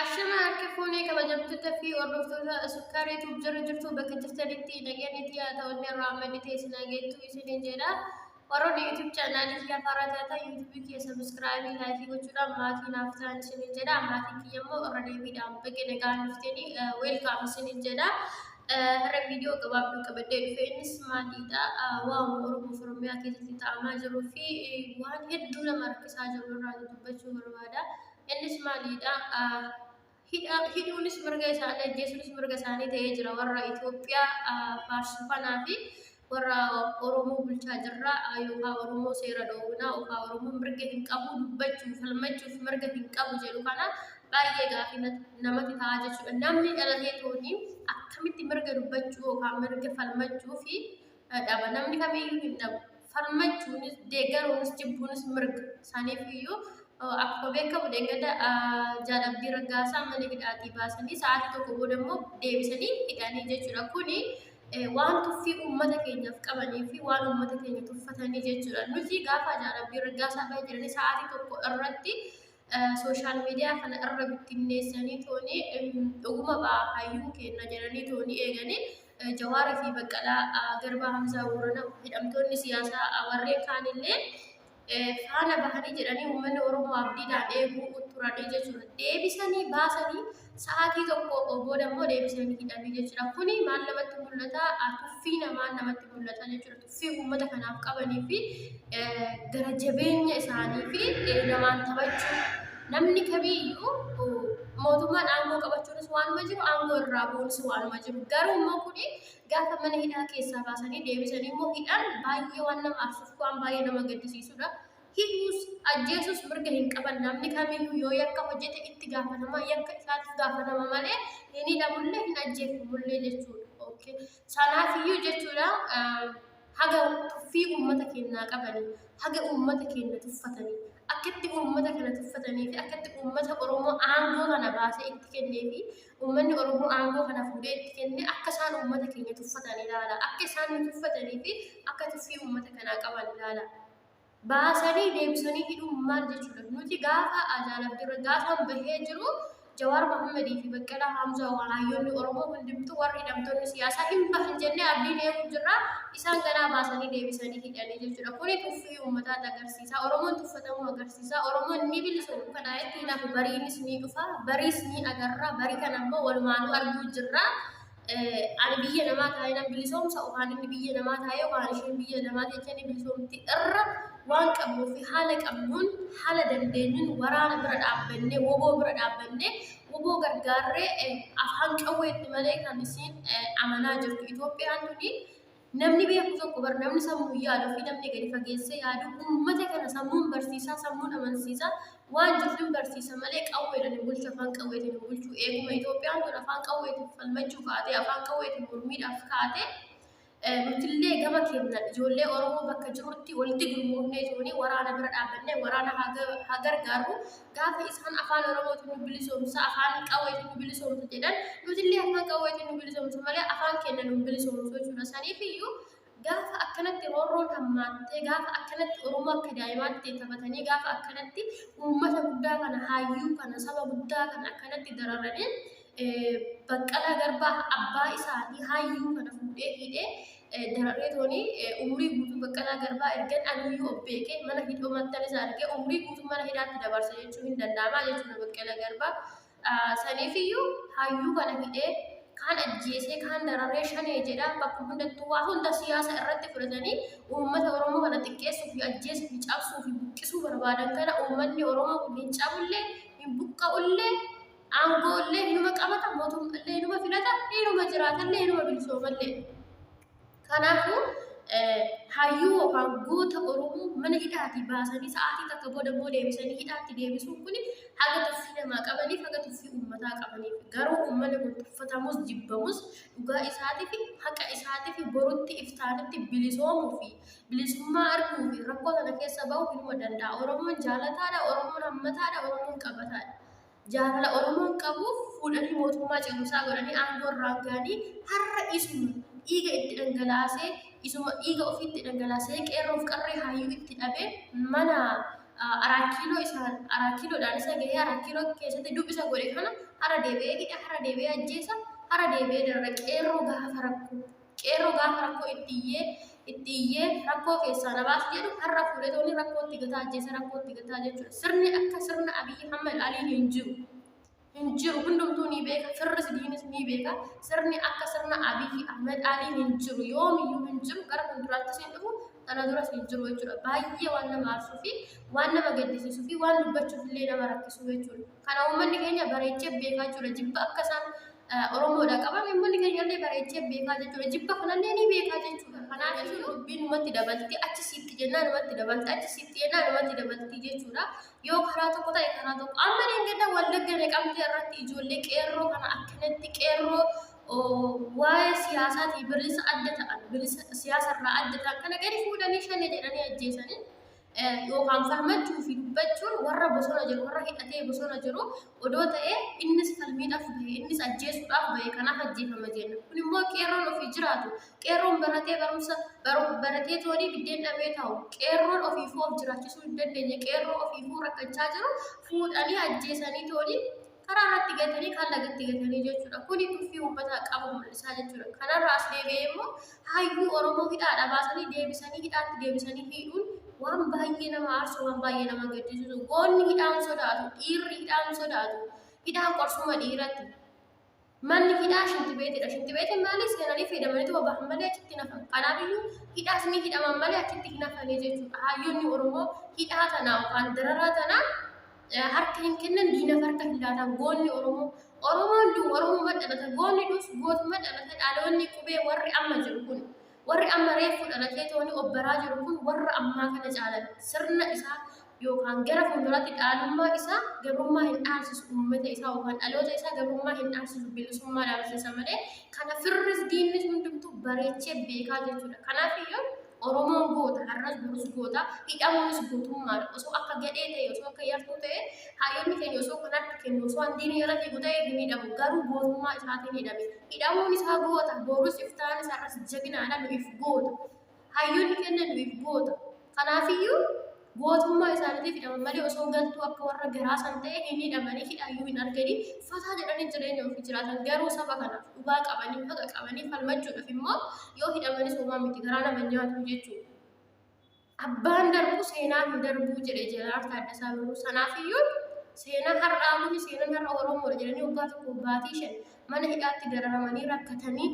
Ashama harka fuunee kabajamtoota fi hordoftoota sukkaaree tuub jala jirtu bakka jirtanitti nageenyi xiyaa ta'ollee irraa maddi teessinaa geettu isiniin jedha. Warroonni YouTube channel kiyya faaraa taatan YouTube kiyya subscribe like gochuudhaan maatii naaf ta'an isinin jedha maatii kiyya immoo irra deebiidhaan baga nagaan dhuftanii welcome isinin jedha har'a viidiyoo gabaabduu qabadhee dhufe innis maaliidha waan Oromoo Oromiyaa keessatti ta'amaa jiruu fi waan hedduu nama rakkisaa jiru irraa dubbachuu barbaada innis maaliidha hidha hidhuunis mirga isaanii ajjeesuunis mirga isaanii ta'ee jira warra Itoophiyaa faarsu kanaa fi warra Oromoo bulchaa jirra yookaan Oromoo seera dhoowwinaa yookaan Oromoo mirga hin qabu dubbachuuf falmachuuf mirga hin qabu jedhu kana baay'ee gaafii namatti ta'a jechuudha. Namni dhalatee tooni akkamitti mirga dubbachuu yookaan mirga falmachuu fi dhaba namni kamiyyuu hin dhabu farmachuunis deeggaruunis jibbuunis mirga isaaniif iyyuu akkuma beekamu deeggada jaalabbii raggaasaa mana hidhaatii baasanii sa'aatii tokko booda immoo deebisanii hidhanii jechuudha kuni waan tuffii uummata keenyaaf qabanii fi waan uummata keenya tuffatanii jechuudha nuti gaafa jaalabbii raggaasaa ba'e jiranii sa'aatii tokko irratti sooshaal miidiyaa kana irra bittinneessanii tooni dhuguma ba'a hayyuu kenna jedhanii tooni eeganii Jawaara fi Baqqalaa Garbaa Hamzaa Boorana hidhamtoonni siyaasaa warreen kaanillee faana bahanii jedhanii uummanni Oromoo abdiidhaan eeguu turanii jechuudha. Deebisanii baasanii Sa'aatii tokko booda immoo deebisanii hidhanii jechuudha. Kuni maal namatti mul'ata? Tuffii namaa namatti mul'ata jechuudha. Tuffii uummata kanaaf qabanii fi gara jabeenya isaanii fi namaan taphachuu namni kamiyyuu mootummaan aangoo qabachuunis waanuma jiru aangoo irraa bu'uunis waanuma jiru. Garuu immoo kuni gaafa mana hidhaa keessaa baasanii deebisanii immoo hidhan baay'ee waan nama aarsuuf waan baay'ee nama gaddisiisudha. hidhuus ajjeesuus mirga hin qaban namni kamiyyuu yoo yakka hojjete itti gaafatama yakka isaatiif gaafatama malee hin hidhamullee hin ajjeefamullee jechuudha. Okay. Sanaafiyyuu jechuudha haga tuffii uummata keenyaa qabanii haga uummata keenya tuffatanii akkatti uummata kana tuffatanii fi akkatti uummata Oromoo aangoo kana baasee itti kennee fi uummanni Oromoo aangoo kana fuudhee itti kenne akka isaan uummata keenya tuffatan ilaala. Akka isaan nu tuffatanii fi akka tuffii uummata kanaa qaban ilaala. baasanii deebisanii hidhuun maal jechuudha? Nuti gaafa Aadaan Abdirra gaafan bahee jiru Jawaar Mohammadii fi Baqqalaa Haamzaa walaayyoonni Oromoo hundumtuu warri hidhamtoonni siyaasaa hin bahan jennee abdiin eeguu jirra. Isaan ganaa baasanii deebisanii hidhanii jechuudha. Kuni tuffii uummataa agarsiisa. Oromoon tuffatamuu agarsiisa. Oromoon ni bilisoomu. Kana itti nafu bariinis ni dhufa. Bariis ni agarra. Barii kana immoo walumaanuu arguu jirra. ani biyya namaa taa'ee nan bilisoomsa yookaan inni biyya namaa taa'ee yookaan isheen biyya namaa teessee ni bilisoomti irra waan qabnuu fi haala qabnuun haala dandeenyuun waraana bira dhaabbannee woboo bira dhaabbannee woboo gargaarree afaan qawweetti malee kan isiin amanaa jirtu Itoophiyaan tuni Namni beeku tokko bar namni sammuun yaadu fi namni gadi fageessee yaadu uummata kana sammuun barsiisaa sammuun amansiisaa waan jiruuf hin barsiisa malee qawweedhaan hin bulchu afaan qawweetiin hin bulchu eeguma Itoophiyaan tun afaan qawweetiin falmachuu kaatee afaan qawweetiin mormiidhaaf kaatee nutillee gama keenyaan ijoollee Oromoo bakka jirutti walitti gurmoofnee toonii waraana bira dhaabbannee waraana haa gargaarru gaafa isaan afaan oromootiin nu bilisoomsa afaan qawweetiin nu bilisoomsa jedhan nutillee afaan qawweetiin nu bilisoomsa malee afaan keenya nu bilisoomsu jechuudha saniif iyyuu gaafa akkanatti roorroon hammaattee gaafa akkanatti oromoo akka daa'imaatti taphatanii gaafa akkanatti uummata guddaa kana hayyuu kana saba guddaa kana akkanatti dararanii Baqqalaa Garbaa abbaa isaanii hayyuu kana fuudhee hidhee dararee tooni umrii guutuu Baqqalaa Garbaa ergan anuyyuu of beekee mana hidhoo mattan isa argee umrii guutuu mana hidhaatti dabarsa jechuu hin danda'amaa jechuudha Baqqalaa Garbaa. Saniifiyyuu hayyuu kana hidhee kaan ajjeesee kaan dararee shanee jedhaa bakka hundattuu waa hunda siyaasa irratti fudhatanii uummata Oromoo kana xiqqeessuu fi ajjeesuu fi cabsuu fi buqqisuu barbaadan kana uummanni Oromoo kun hin cabullee hin buqqa'ullee Aangoo illee hinuma qabata, mootummaa illee hinuma filata, hinuma jiraata illee, hinuma bilisooma illee. Kanaafuu hayyuu yookaan goota Oromoo mana hidhaatii baasanii sa'aatii takka booda immoo deebisanii hidhaatti deebisuun kun haga tuffii namaa qabaniif haga tuffii uummataa qabaniif garuu uummanni kun tuffatamus jibbamus dhugaa isaatiif haqa isaatiif borutti iftaanitti bilisoomuu fi bilisummaa arguu fi rakkoo kana keessa ba'uu hinuma danda'a. Oromoon jaalataadha, Oromoon hammataadha, Oromoon qabataadha. jaalala Oromoon qabuuf fuudhanii mootummaa ce'umsaa godhanii aangoo irraan ga'anii har'a isuma dhiiga itti dhangalaasee isuma dhiiga ofii itti dhangalaasee qeerroof qarree hayyuu itti dhabee mana araakiiloo isa araakiiloodhaan isa gahee araakiiloo keessatti dubbisa godhe kana har'a deebi'ee hidha har'a deebi'ee ajjeesa har'a deebi'ee darara qeerroo gaafa rakkoo Qeerroo gaafa rakkoo itti iyyee itti iyyee rakkoo keessaa na baasi jedhu har'a fuudhetoonni rakkoo itti gataa ajjeesee rakkoo itti gataa jechuudha. Sirni akka sirna Abiyyi Ahmad Alii hin jiru. Hin jiru hundumtuu ni beeka firris diinis ni beeka sirni akka sirna Abiyyi Ahmad Alii hin jiru yoomiyyuu hin jiru gara fuulduraattis hin dhufu kana duras hin jiru jechuudha. Baay'ee waan nama aarsuu fi waan nama gaddisiisuu fi waan dubbachuuf illee nama rakkisuu jechuudha. Kana uummanni keenya bareechee beekaa jechuudha. Jibba akka isaan Oromoodha qaban uummanni keenya illee bareechee beekaa jechuudha. Jibba kanallee ni beekaa jechuudha. Kanaaf jechuun dubbiin numatti dabalti achi siitti jennaa numatti dabalti achi siitti jennaa numatti dabalti jechuudha. Yoo karaa tokko ta'e karaa tokko. Amma dheengadda wallagga naqamtee irratti ijoollee qeerroo kana akkanatti qeerroo waa'ee siyaasaatii bilisa adda ta'an bilisa siyaasarraa adda ta'an kana gadi fuudhanii shanee jedhanii ajjeesanii yookaan falmachuu fi dubbachuun warra bosona jiru warra hidhatee bosona jiru odoo ta'ee innis falmiidhaaf bahe innis ajjeesuudhaaf bahe kanaaf ajjeefama jenna kun immoo qeerroon ofii jiraatu qeerroon baratee barumsa baratee toonii biddeen dhabee ta'u qeerroon ofiifuu of jiraachisuu hin dandeenye qeerroo ofiifuu rakkachaa jiru fuudhanii ajjeesanii toonii karaa irratti gatanii kan lagatti gatanii jechuudha. Kuni tuffii uummataa qabu mul'isaa jechuudha. Kanarraa as deebi'ee immoo hayyuu Oromoo hidhaadha baasanii deebisanii hidhaatti deebisanii hidhuun waan baay'ee nama aarsu waan baay'ee nama gaddisiisu goonni hidhaan sodaatu dhiirri hidhaan sodaatu hidhaan qorsuma dhiiratti Manni hidhaa shintibeetidha. Shintibeetiin maali? Seenanii fayyadamaniituma bahan malee achitti hin hafan. Kanaafiyyuu hidhaas ni hidhaman malee achitti hin hafanii jechuudha. Hayyoonni Oromoo hidhaa tana yookaan dararaa tana eh, harka hin kennan diinaf harka hin laatan goonni Oromoo. Oromoon du Oromummaa dhalata, goonni dus gootummaa dhalata dhaloonni qubee warri amma jiru kun. Warri amma reeffu dhalatee tooni obbaraa jiru kun warra ammaa kana caalan sirna isaa yookaan gara fuulduraatti dhaalummaa isaa gabrummaa hin dhaabsisu uummata isaa yookaan dhaloota isaa gabrummaa hin dhaabsisu bilisummaa dhaabsisa malee kana firris diinnis hundumtuu bareechee beekaa jechuudha kanaaf iyyuu Oromoon goota har'as borus goota hidhamuunis gootummaan osoo akka gadhee ta'e osoo akka yartuu ta'e haayyoonni keenya osoo kan harka kennu osoo handiin irratti guta'e hin hidhamu garuu gootummaa isaatiin hidhame Hidhamuun isaa goota, borus iftaan isa irras jaginaadha nu'if goota. Hayyonni kenna nu'if goota. Kanaafiyyuu gootummaa isaaniitiif hidhaman malee osoo galtuu akka warra garaa san ta'e hin hidhamanii hidhaayyuu hin arganii fataa jedhanii jireenya ofii jiraatan garuu saba kanaaf dhugaa qabanii haqa qabanii falmachuudhaaf immoo yoo hidhamanis homaa miti garaa nama nyaatu jechuudha. Abbaan darbu seenaa hin darbuu jedhe Jeneraal Taaddasaa Birruu. Sanaafiyyuu seenaa har'aa kuni seenaan har'a Oromoodha jedhanii waggaa tokko baatii shan mana hidhaatti dararamanii rakkatanii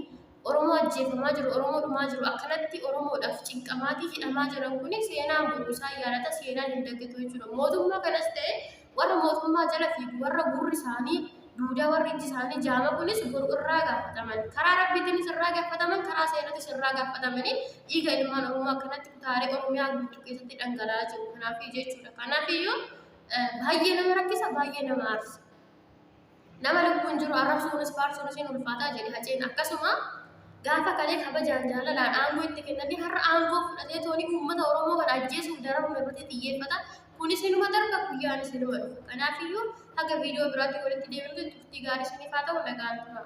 Oromoo ajjeefamaa jiru, Oromoo dhumaa jiru, akkanatti Oromoodhaaf cinqamaatii hidhamaa jiran kuni seenaan boru isaan yaadata, seenaan hin dagatu jechuudha. Mootummaa kanas ta'e Warra mootummaa jala fiigu, warra gurri isaanii duudaa, warri ijji isaanii jaama kunis boru irraa gaafataman. Karaa Rabbiitiinis irraa gaafataman, karaa seeratis irraa gaafatamanii dhiiga ilmaan Oromoo akkanatti kutaalee Oromiyaa guutuu keessatti dhangala'aa jiru. Kanaafi jechuudha. Kanaafiyyuu baay'ee nama rakkisa, baay'ee nama aarsa. Nama lubbuun jiru arrabsuunis faarsuunis hin ulfaataa jedhe Haceen. Akkasuma gaafa kalee kabajaan jaalalaan aangoo itti kennanii har'a aangoo fudhatee toonii uummata Oromoo kana ajjeesuuf dararuun irratti xiyyeeffata. Kunis inuma darba guyyaanis inuma dhufa. Kanaafiyyuu haga viidiyoo biraatti walitti deebinutti turtii gaarii isiniif haa ta'u nagaan turaa.